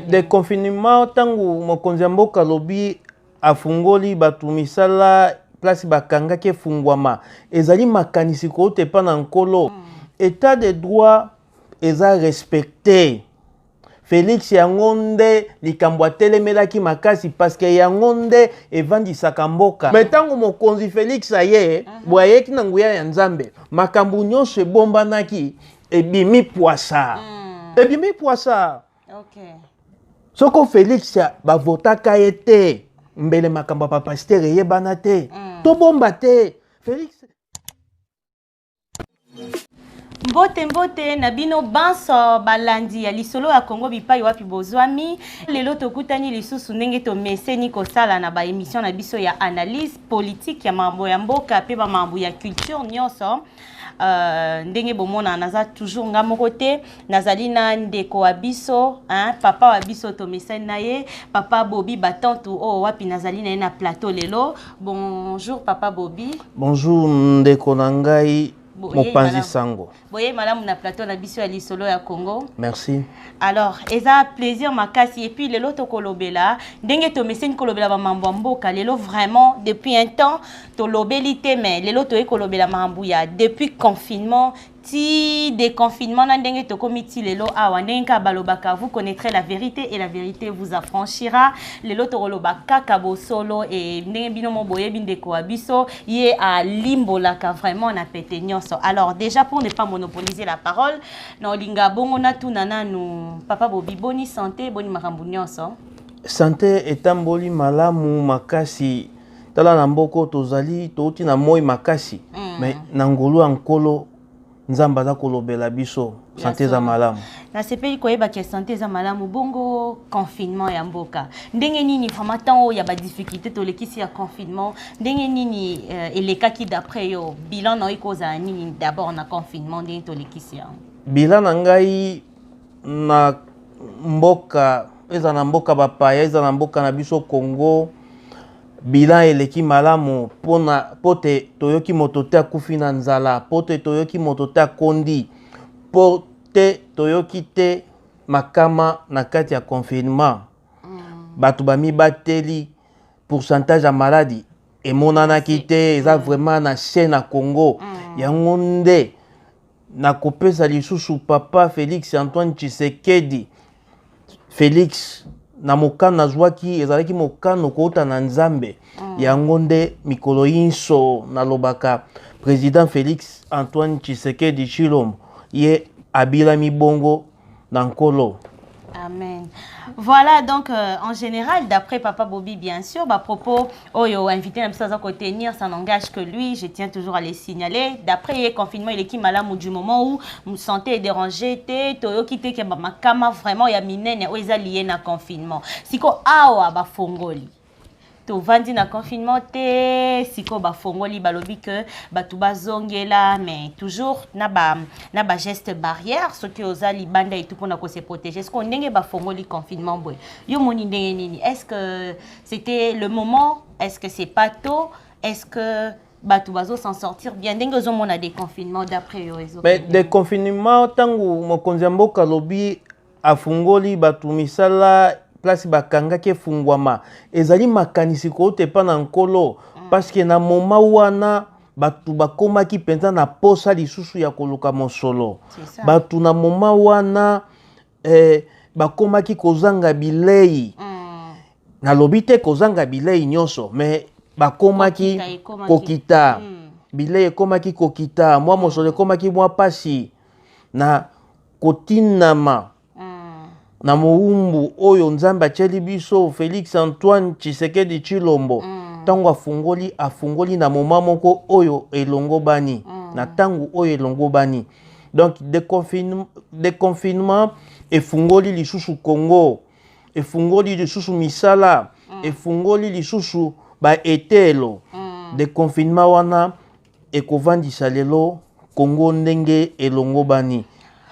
de confinement ntango mokonzi ya mboka alobi afungoli bato misala place bakangaki efungwama ezali makanisi kouta epa na nkolo mm. etat de droit eza respecte felix yango nde likambo atelemelaki makasi parceke yango nde evandisaka mboka me ntango mokonzi felix aye mhm. boye ayeki na nguya ya nzambe makambo nyonso ebombanaki ebimi pwasa mm. ebimi pwasa okay. soko felix bavotaka ye te mbele makambo ya bapastere eyebana te mm. tobomba te felix mbote mbote na bino banso balandi ya lisolo ya kongo bipai wapi bozwami lelo tokutani lisusu ndenge tomeseni kosala na baemission na biso ya analyse politike ya mambo ya mboka mpe bamambo ya culture nyonso Euh, ndenge bomona naza toujours nga moko te nazali na ndeko wa biso hein, papa wa biso tomesani na ye papa bobi batantu oyo oh, wapi nazali na ye na plateau lelo bonjour papa bobi bonjour ndeko na ngai mopanzi sango boyei malamu na plateau na biso ya lisolo ya congo merci alors eza plaisir makasi epuis lelo tokolobela ndenge tomeseni kolobela bamambo ya mboka lelo vraiment depuis un temps tolobeli te mais lelo toyei kolobela makambo ya depuis confinement ti déconfinement na ndenge tokomi ti lelo awa ndenge kaka balobaka vous connaîtrez la vérité et la vérité vous affranchira lelo tokoloba kaka bosolo e ndenge bino mo boyebi ndeko wa biso ye alimbolaka vraiment na pete nyonso alors déjà pour ne pas monopoliser la parole na olinga bongo natuna nanu papa bobi boni santé boni makambo nyonso santé etamboli malamu makasi tala na mboko tozali touti na moi makasi mm. mais na ngolu ya nkolo nzambe aza kolobela biso sante eza malamu nasepeli koyeba ke sante eza malamu bongo confinement ya mboka ndenge nini vraiment temps oyo ya badifficulté tolekisi ya confinement ndenge nini euh, elekaki d'après yo bilan na yo ekozala nini d'abord na confinement ndenge tolekisi yango bilan na ngai na mboka eza na mboka bapaya eza na mboka na biso congo bilan eleki malamu pona po te toyoki moto te akufi na nzala po te toyoki moto te akondi po te toyoki te makama na kati ya confinement mm. bato bamibateli pourcentage ya maladi emonanaki te eza mm. vraiment na se na congo mm. yango nde nakopesa lisusu papa Felix Antoine Tshisekedi Felix na mokano nazwaki ezalaki mokano kouta na Nzambe mm. yango nde mikolo inso nalobaka président Felix Antoine Tshisekedi Tshilombo ye abilami bongo na nkolo Amen. Voilà donc euh, en général d'après papa Bobby bien sûr bah propos oyo oh, invité na biso aza ko tenir ça n'engage que lui, je tiens toujours à les signaler. D'après le confinement il est qui malamu du moment où mon santé est dérangée te toyoki te ke ba makama vraiment ya minene oyo eza lié na confinement. Siko awa ba fongoli tovandi na confinement te sikoyo bafongoli balobi ke bato bazongela mais toujours na ba, na ba geste barrière soki oza libanda etu mpona kose protéger sikoyo ndenge bafongoli confinement boye yo moni ndenge nini est ce que c'était le moment est ce que c'est pas tôt est ce que bato bazo s'en sortir bien ndenge ozomona déconfinement d'après yo ezo mais déconfinement ntango mokonzi ya mboka alobi afungoli bato misala place bakangaki efungwama ezali makanisi kouta epai na nkolo mm. parceke na moma wana bato bakomaki mpenza na posa lisusu ya koluka mosolo bato na moma wana eh, bakomaki kozanga bilei mm. nalobi te kozanga bilei nyonso me bakomaki kokita, kokita. Mm. bilei ekomaki kokita mwa mosolo ekomaki mwa mpasi na kotinama na mowumbu oyo nzambe atieli biso felix antoine tshisekedi tshilombo ntango afungoli afungoli na moma moko oyo elongobani na ntango oyo elongobani donc deconfinement, deconfinement efungoli lisusu congo efungoli lisusu misala mm. efungoli lisusu baetelo mm. deconfinement wana ekovandisa lelo Congo ndenge elongobani.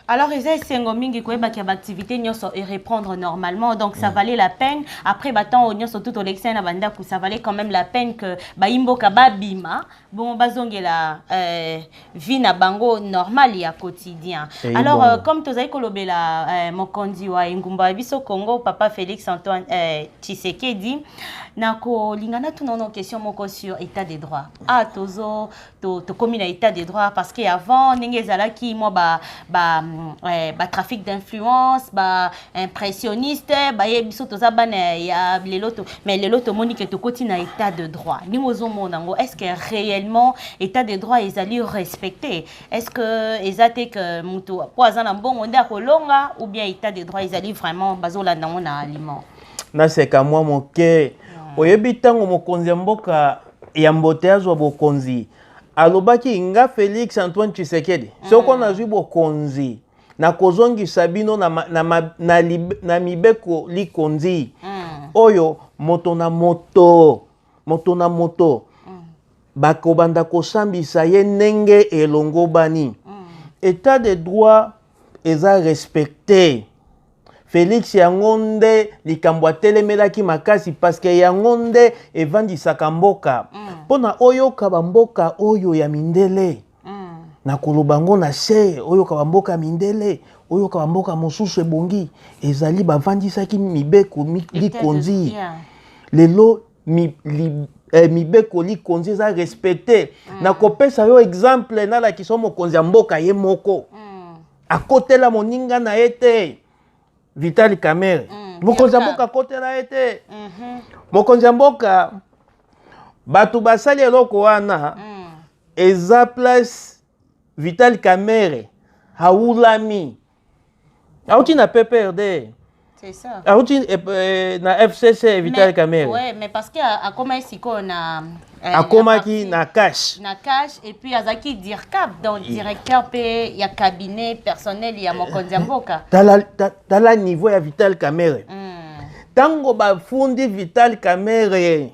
Alors eza esengo mingi koyeba kia baactivité nyonso e reprendre normalement donc ça mm. valait la peine après batemps oyo nyonso tout olekisai na bandako ça valait quand même la peine que bayimboka babima bongo bazongela euh, vie na bango normal ya quotidien hey, eh, alors bon. euh, comme tozali kolobela euh, mokonzi wa engumba ya biso congo papa félix antoine euh, tshisekedi nakolinga natuna ono question moko sur état de droit ah tozo to, tokomi na état de droit parce que avant ndenge ezalaki mwa ba, ba, mm, eh, ba trafic d'influence ba impressionniste baye biso toza bana ya lelo to mais lelo tomoni ke tokoti na état de droit ndenge ozomona yango est ce que réellement état de droit ezali respecté est ce que eza te ke motu mpo aza na mbongo nde akolonga ou bien état de droit ezali vraiment bazolanda yango na aliment naseka mwa moke hmm. oyebi ntango mokonzi ya mboka yambo te azwa bokonzi alobaki nga felix antoine tshisekedi mm. soko nazwi bokonzi nakozongisa bino na, na, na, na, na mibeko likonzi mm. oyo moto na moto moto na moto mm. bakobanda kosambisa ye ndenge elongobani mm. etat de droit eza respecte felix yango nde likambo atelemelaki makasi parceke yango nde evandisaka mboka mm. mpo mm. na oyoka bamboka oyo ya mindele mm. na koloba yango na se oyoka bamboka ya mindele oyoka bamboka mosusu ebongi ezali bavandisaki mibeko likonzi yeah. lelo mi, li, eh, mibeko likonzi eza respecte mm. nakopesa yo exemple nalakisa yo mokonzi ya mboka ye moko mm. akotela moninga na ye te vitali camere mm. mokonzi ya mboka akotela ye te mm -hmm. mokonzi ya mboka bato basali eloko wana mm. eza place vitali camere haulami auti na pprd C'est ça. auti eh, eh, na fcc vital Mais- kamere Ouais, mais parce que a- akomaki sikoyo na eh, akomaki na na cash na cash et puis azalaki dircap donc directeur mpe ya cabinet personnel ya mokonzi ya mboka tala, ta- tala niveau ya vital kamere Mm. ntango bafundi vital kamere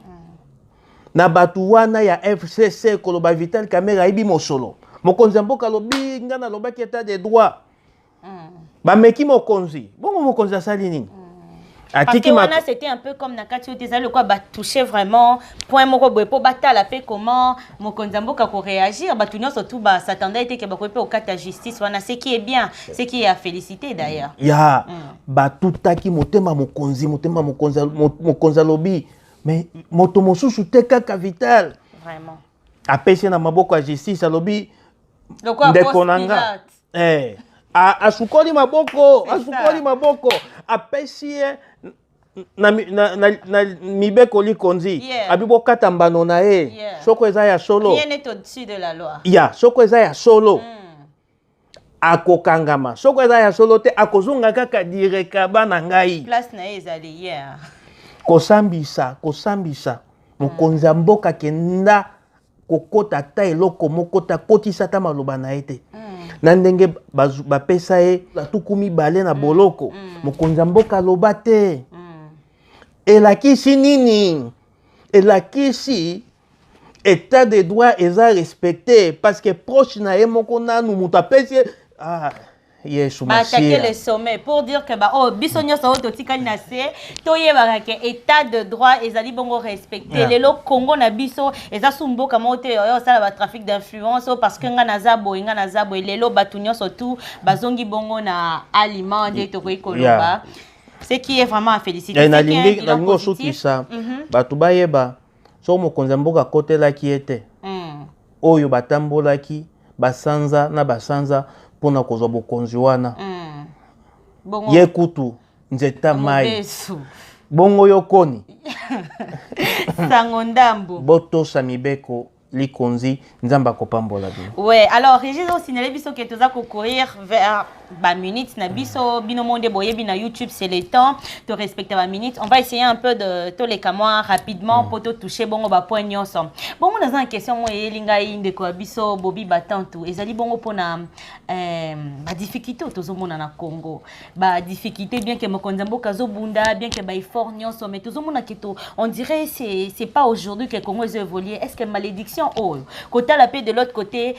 na bato wana ya fcc koloba vital camere ayebi mosolo mokonzi ya mboka alobi ngai nalobaki etat de droit mm. bameki mokonzi bongo mokonzi asali nini mm. atiki wana c'était un peu comme na kati oyo te ezali lokola batouche vraiment point moko boye mpo batala mpe comment mokonzi ya mboka koréagir bato nyonso tu basatanda ete ke bakoki mpe kokata justice wana ce qui est bien ce qui est à féliciter d'ailleurs ya mm. batutaki motema mokonzi motema mokonzi alobi mais moto mosusu te kaka vital vraiment apesi na maboko ya justice alobi Lokola ndeko Ponce na nga Pilate. eh, a- asukoli maboko asukoli maboko apesi ye na, mi- na, na, na mibeko likonzi Yeah. abi bokata mbano na ye Yeah. soko eza ya solo Rien n'est au-dessus de la loi. ya soko eza ya solo Mm. akokangama soko eza ya solo te akozonga kaka direkaba na ngai place na ye ezali yeah. kosambisa kosambisa mokonzi ya mboka kenda kokota ata eloko moko te akotisa ata maloba na ye te mm. na ndenge bapesa ye batuku mibale na mm. boloko mm. mokonzi ya mboka aloba te mm. elakisi nini elakisi etat de droit eza respecte parce que proche na ye moko nanu moto apesi ye ah. yesu baatake le sommet pour dire que baoyo oh, biso nyonso oyo totikali na se toyebaka ke état de droit ezali bongo respecte lelo congo na biso eza su mboka moko te oyo osala batrafic d'influence oyo oh, parce que ngai naza boye ngai naza boye lelo bato nyonso tu bazongi bongo na aliment nde tokoki koloba ce qui est vraiment à féliciter eh, nalingi osukisa mhm. bato bayeba soko mokonzi ya mboka akotelaki ye te mm. oyo batambolaki basanza na basanza mpo na kozwa bokonzi wana mm. Bongo... ye kutu nzeta mai bongo yo koni sango ndambo botosa mibeko likonzi nzambe akopambola bino ouais alors régis osignale biso ke toza kocourir vers baminute na biso bino monde boyebi na youtube c'est le temps to respecte baminute on va essayer un peu de toleka mwa rapidement mpo mm. totouche bongo bapoint nyonso bongo naza na question moko eyeli ngai ndeko ya biso bobi batantu ezali bongo mpona euh, badifficulté oyo tozomona na congo ba difficulté bien que mokonzi ya mboka azobunda bien que ba effort nyonso mais tozomona ke to on dirait c'est c'est pas aujourd'hui que congo ezo évoluer est ce que malédiction oyo kotala mpe de l'autre côté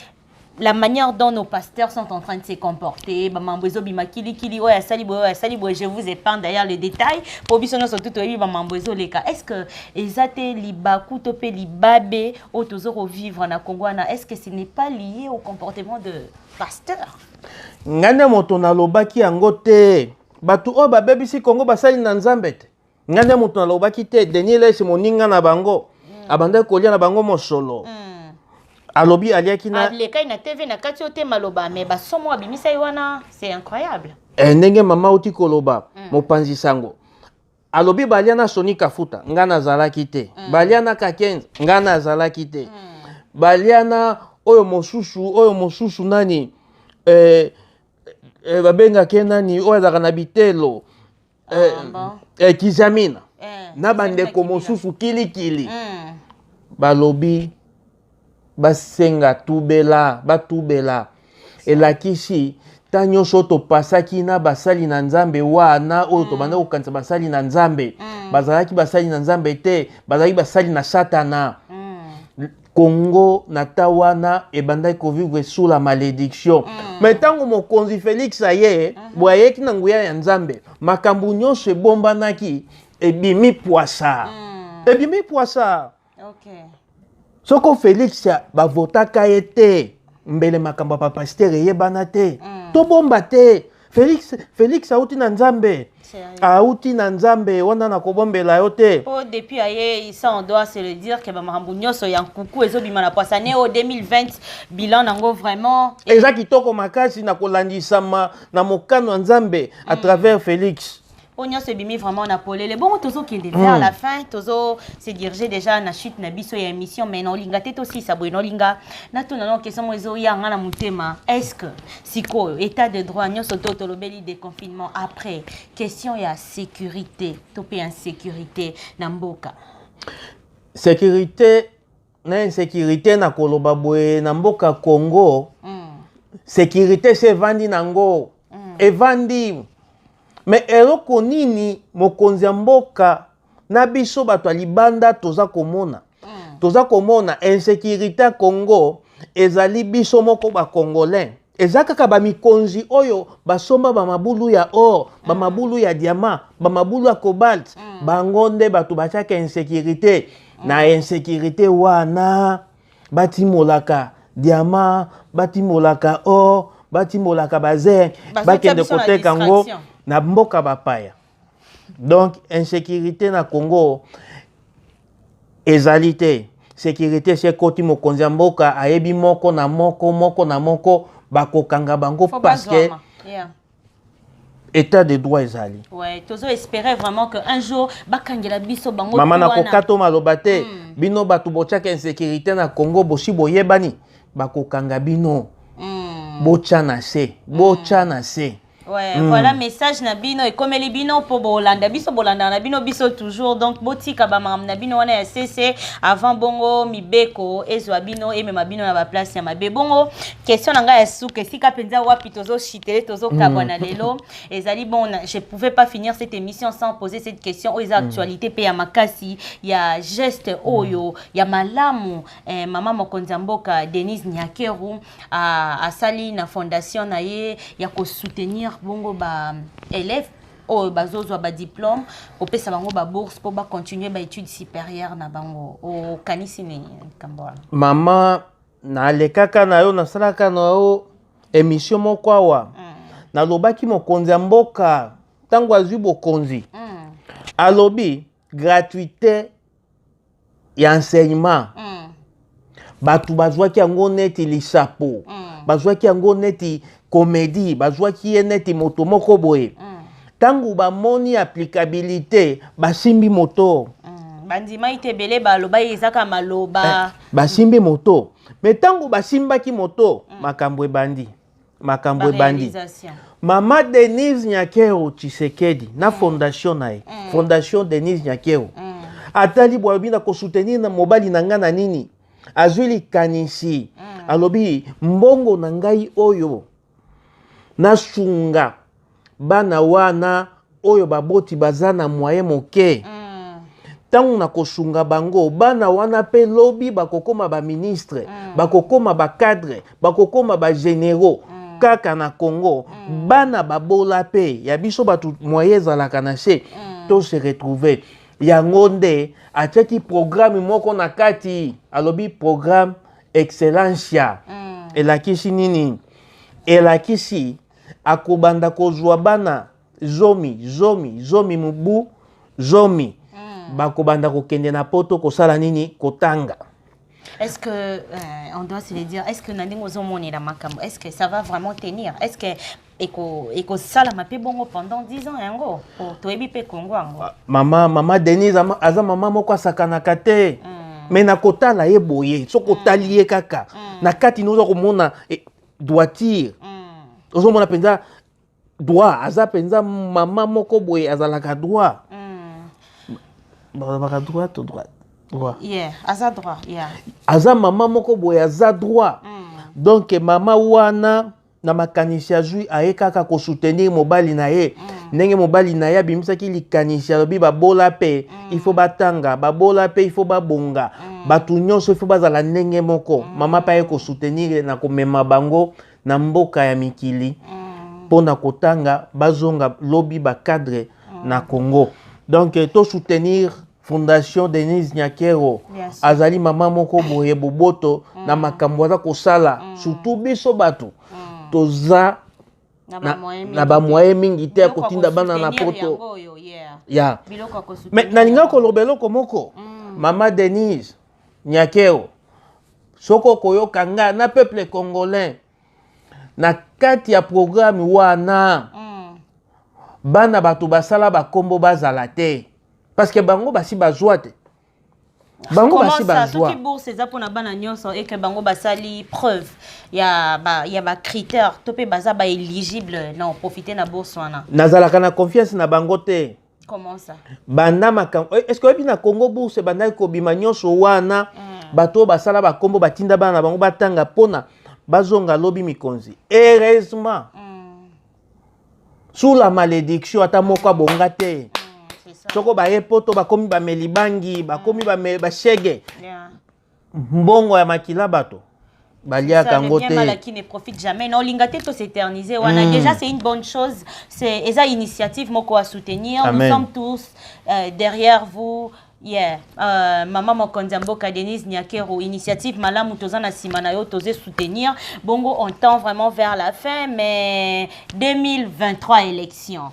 la manière dont nos pasteurs sont en train de se comporter bamambo ezobima kilikili oyo asali boye oyo asali boye je vous épargne d'ailleurs le détail mpo biso nyonso tu toyebi bamambo ezoleka est ce que eza te libaku to mpe libabe oyo tozo kovivre na congo wana est ce que ce n'est pas lié au comportement de pasteur ngai nde moto nalobaki yango te bato oyo babebisi kongo basali na nzambe te ngai nde moto nalobaki te denis lesi moninga na bango mm. abandaki kolia na bango mosolo mm. alobi aliaki na alekai na tv na kati yo te maloba me basomo abimisaki wana c'est incroyable eh, ndenge mama oti koloba mm. mopanzi sango alobi balia na soni kafuta nga nazalaki te mm. balia na kakenza nga nazalaki te mm. balia na oyo mosusu oyo mosusu nani eh, eh, babengaki ye nani oyo azalaka na bitelo ah, eh, ah, eh, kizamina eh, na bandeko mosusu kilikili mm. balobi basenga tubela batubela elakisi ta nyonso topasaki na basali na nzambe wana oyo mm. tobanda kokanisa basali na nzambe mm. bazalaki basali na nzambe te bazalaki basali na satana mm. kongo na ta wana ebandaki kovivre sous la malédiction mm. me ntango mokonzi félix aye mm -hmm. boye ayeki na nguya ya nzambe makambo nyonso ebombanaki ebimi pwasa mm. ebimi pwasa okay. soko félix bavotaka ye te mbele makambo ya bapastere eyebana te mm. tobomba te félix félix auti na nzambe auti na nzambe wana nakobombela yo te po depuis aye isa on doit se le dire ke bamakambo nyonso ya nkuku ezobima na poisane o 2020 bilan nango vraiment eza kitoko makasi na kolandisama na mokano ya nzambe à mm. travers félix oyo nyonso ebimi vraiment na polele bongo tozokende vers mm. la fin tozo se dirige déjà na chute na biso ya émission mais na olinga te tosisa boye na olinga natuna nao question moko ezoya nga na motema est ce que sikoyo état de droit nyonso to tolobeli déconfinement après question ya sécurité to mpe insécurité na mboka sécurité na insecurite na koloba boye na mboka congo mm. securite se evandi na ngo mm. evandi me eloko nini mokonzi ya mboka na biso bato ya libanda toza komona mm. toza komona insecurite ya congo ezali biso moko bakongolais eza kaka bamikonzi oyo basomba bamabulu ya or bamabulu ya diamant bamabulu ya cobalt mm. bango nde bato batiaka insécurité mm. na insécurité wana batimolaka diamant batimolaka or batimolaka bazere bakende koteka yango na mboka bapaya donc insecurité na congo ezali te securité se ekoti mokonzi ya mboka ayebi moko na moko moko na moko bakokanga bango parce que yeah. état de droit ezali ouais, tozo espérer vraiment que un jour bakangela biso bango mama nakokato maloba te mm. bino bato botyaka insécurité na congo bosi boyebani bakokanga bino mm. botya na se botya mm. na se Ouais, mm. voilà message na bino ekomeli bino po bolanda biso bolanda na bino biso toujours donc botika ba makambo na bino wana ya sese avant bongo mibeko ezwa bino emema bino na baplace ya mabe bongo question na ngai ya suka esika mpenza wapi tozoshitele tozokabwa mm. na lelo ezali bon je pouvais pas finir cette émission sans poser cette question oyo eza mm. actualité mpe ya makasi ya geste oyo ya malamu eh, mama mokonzi ya mboka denise nyakeru asali na fondation na ye ya kosoutenir bongo ba élèves oyo bazozwa badiplome kopesa bango babourse mpo bacontinue baétude supérieure na bango okanisi nini likambo wana mama nalekaka na yo nasalaka na yo emisio moko awa mm. nalobaki mokonzi ya mboka ntango azwi bokonzi mm. alobi gratuité ya enseignement mm. bato bazwaki yango neti lisapo mm. bazwaki yango neti komedi bazwaki ye neti moto moko boye mm. ntango mm. bamoni applicabilité basimbi moto mm. bandimaki te ebele balobaki ezaka maloba eh, basimbi moto me ntango basimbaki moto mm. makambo ebandi makambo ebandi mama denise nyakero tshisekedi na mm. fondation na ye mm. fondation denise nyakero mm. atali bwa alobi na kosoutenir na mobali na ngai na nini azwi likanisi mm. alobi mbongo na ngai oyo nasunga bana wana oyo baboti baza na moyen moke ntango mm. na kosunga bango bana wana mpe lobi bakokoma baministre mm. bakokoma bacadre bakokoma bagénéraux mm. kaka na congo mm. bana babola mpe ya biso bato moyen ezalaka na se mm. to se retrouver yango nde atiaki programme moko na kati alobi programme excellencia mm. elakisi nini elakisi mm. akobanda kozwa bana zomi zomi zomi mobu zomi mm. bakobanda kokende na poto kosala nini kotanga Est-ce que, euh, on doit se le dire, est-ce que Nandingo Zomon est la Makambo Est-ce que ça va vraiment tenir Est-ce que ekosalama mpe bongo pendant 10 ans yango toyebi mpe kongo yango mama mama denise aza mama moko asakanaka te mm. me nakotala ye boye soki mm. otali ye kaka mm. na kati noza komona e, droitire mm. ozomona mpenza droit aza mpenza mama moko boye azalaka droit mm. balobaka droit to droit droit yeah, aza droit yeah. aza mama moko boye aza droit mm. donc mama wana na makanisi azwi aye kaka kosoutenir mobali na ye mm. ndenge mobali na ye abimisaki likanisi alobi babola mpe mm. mm. il faut batanga babola mpe il faut babonga mm. bato nyonso il faut bazala ndenge moko mm. mama mpe aye kosoutenir na komema bango na mboka ya mikili mpo na kotanga bazonga lobi bacadre na congo donc eh, tosoutenir fondation denise nyakero yes. azali mama moko boye boboto mm. na makambo aza kosala mm. surtout biso bato mm. toza na bamoye mingi te ya kotinda bana na poto ya me nalinga koloba eloko moko mm. mama denise nyakeo soki okoyoka nga na peuple congolais na kati ya programme wana mm. bana bato basala bakombo bazala te parce que bango basi bazwa te bango basi basoki bourse eza mpona bana nyonso eke bango basali preuve ya ba, ya ba critère to mpe baza ba éligible na profite na bourse wana nazalaka na confiance na bango te comment ça banda makambo eh, est ce que oyebi na congo bourse ebandaki kobima nyonso wana mm. bato oyo basala bakombo batinda bana na bango batanga mpona bazonga lobi mikonzi heureusement mm. sous la malédiction ata moko abonga te mm, soko baye poto bakomi bameli bangi bakomi mm. bashege mbongo ya makila bato baliaka yango te mala qui ne profite jamais na olinga te to s'éterniser wana mm. déjà c'est une bonne chose c'est eza initiative moko à soutenir Amen. nous sommes tous euh, derrière vous Yeah. Uh, mama mokonzi ya mboka Denise Nyakero initiative malamu toza na nsima na yo toze soutenir bongo on tend vraiment vers la fin mais 2023 élection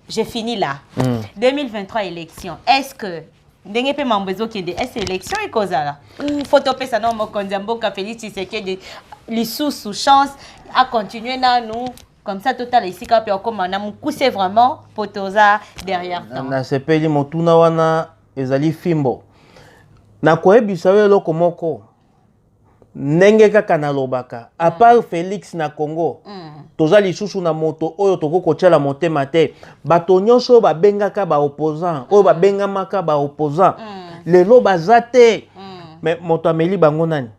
j'ai fini là mm. 2023 élection est-ce que ndenge mpe mambo ezokende ese élection ekozala ou fo topesa nao mokonzi ya mboka félix tshisekedi lisusu chance acontinue nanu comme ça totala esika wapi okoma na mokuse vraiment mpo toza derrière nasepeli motuna wana ezali fimbo nakoyebisa yo eloko moko ndenge kaka nalobaka apart mm. félix na congo mm. toza lisusu na moto oyo tokoki kotyela motema te bato nyonso oyo babengaka baopposant oyo mm. babengamaka baopposant mm. lelo baza te mm. me moto ameli bango nani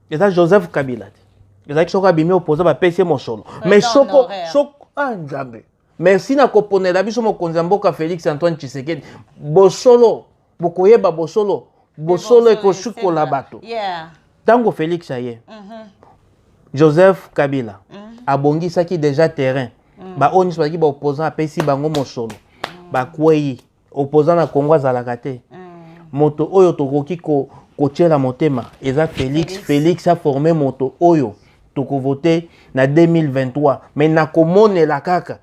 eza joseph kabila te ezalaki soko abimi opoza bapesi ye mosolo mais soko soko ah nzambe merci na koponela biso mokonzi ya mboka félix antoine tshisekedi bosolo bokoyeba bosolo bosolo ekosukola bato ntango félix aye mhm. joseph kabila mhm. abongisaki déjà terrain mhm. baoyo nyonso bazalaki baopposant apesi bango mosolo bakwei opposant na Congo azalaka te moto oyo tokoki ko kotyela motema eza Felix Felix a forme moto oyo tokovote na 2023 mais nakomonela kaka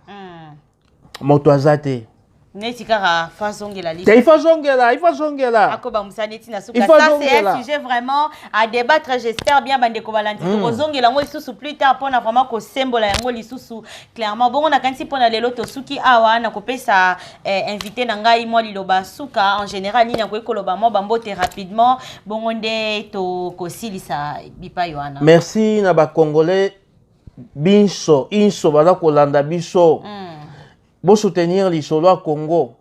moto aza te neti kaka fa azongela li il faut azongela il faut azongela akobamisa neti na suka ça c'est un sujet vraiment à débattre j'espère bien bandeko balandi hmm. tokozongela yango lisusu plus tard mpona vraiment kosembola yango lisusu clairement bongo nakanisi mpona lelo tosuki awa na kopesa eh, invité na ngai mwa liloba suka en général nini akoki koloba mwa bambote rapidement bongo nde tokosilisa bipai wana merci na bacongolais binso inso baza kolanda biso mm. bosoutenir lisolo ya congo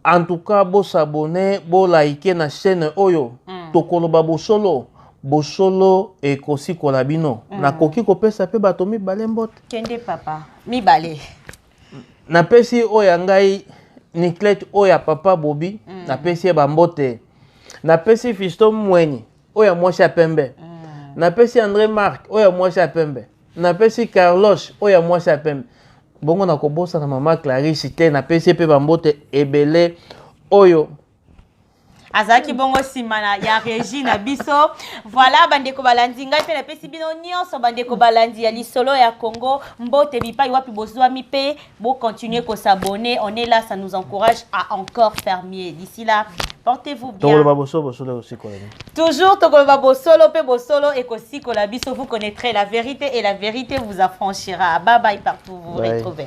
en tout cas bosabone bolaike na chaîne oyo mm. tokoloba bosolo bosolo ekosikola bino mm. nakoki kopesa mpe bato mibale mbote kende papa mibale napesi oyo ya ngai niclete oyo ya papa bobi mm. napesi ye bambote napesi fisto mweni oyo ya mwasi ya pembe mm. napesi andre mark oyo ya mwasi ya pembe napesi carlos oyo ya mwasi ya pembe bongo nakobosana mama clarisse te napesi ye mpe bambote ebele oyo azalaki bongo nsima na ya regi na biso voilà bandeko balandi ngai mpe napesi bino nyonso bandeko balandi ya lisolo ya congo mbote bipai wapi bozwami mpe bocontinue kosabonne on est là ça nous encourage à encore faire mieux d'ici là portez-vous bien tokoloba bosolo bosolo ekosikola toujours tokoloba bosolo mpe bosolo ekosikola biso vous connaîtrez la vérité et la vérité vous affranchira bye bye partout vous, vous retrouvez